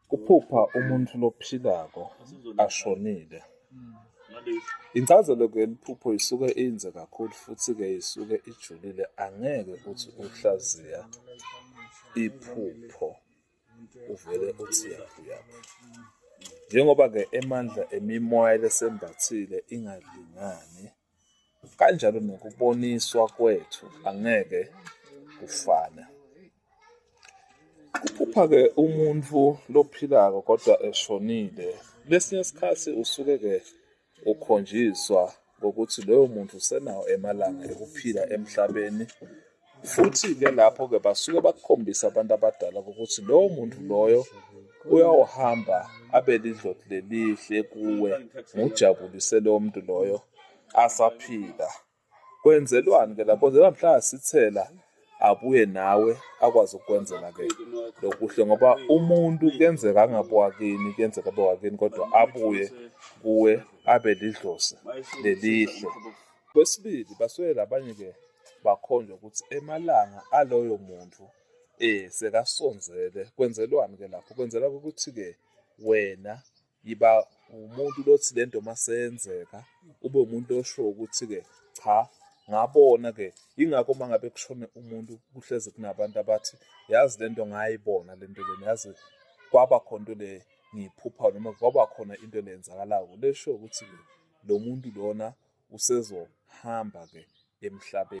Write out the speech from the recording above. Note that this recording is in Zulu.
Kuphupha umuntu lophilako ashonile. Incazelo-ke yeliphupho isuke inze kakhulu futhi-ke isuke ijulile angeke uthi uhlaziya iphupho uvele uthi yaphi yaphi. Njengoba-ke emandla emimoya lesembathile ingalingani. kanjalo nokuboniswa kwethu angeke kufane. Kuphupha-ke umuntu lophilako kodwa eshonile, kwesinye isikhathi usuke-ke ukhonjiswa ngokuthi loyo muntu usenawo emalanga ekuphila emhlabeni Futhi-ke lapho-ke basuke bakukhombisa abantu abadala ukuthi lowo muntu loyo uyawuhamba abe lidloti lelihle kuwe ngujabulise lowo muntu loyo asaphila. Kwenzelwani-ke lapho? Kwenzelwa mhla asithela abuye nawe akwazi ukukwenzela ke lokuhle ngoba umuntu kuyenzeka angabe wakini kuyenzeka abe wakini kodwa abuye kuwe abe lidlozi lelihle kwesibili baswele abanye ke bakhonjwa ukuthi emalanga aloyo muntu eh sekasonzele kwenzelwani ke lapho kwenzela ukuthi ke wena yiba umuntu lothi lento masenzeka ube umuntu osho ukuthi ke cha ngabona ke ingakho mangabe kushone umuntu kuhleze kunabantu abathi yazi lento ngayibona lento lena yazi kwaba khona into le ngiyiphupha noma kwaba khona into leyenzakalayo lesho ukuthi lo muntu lona usezohamba-ke emhlabeni.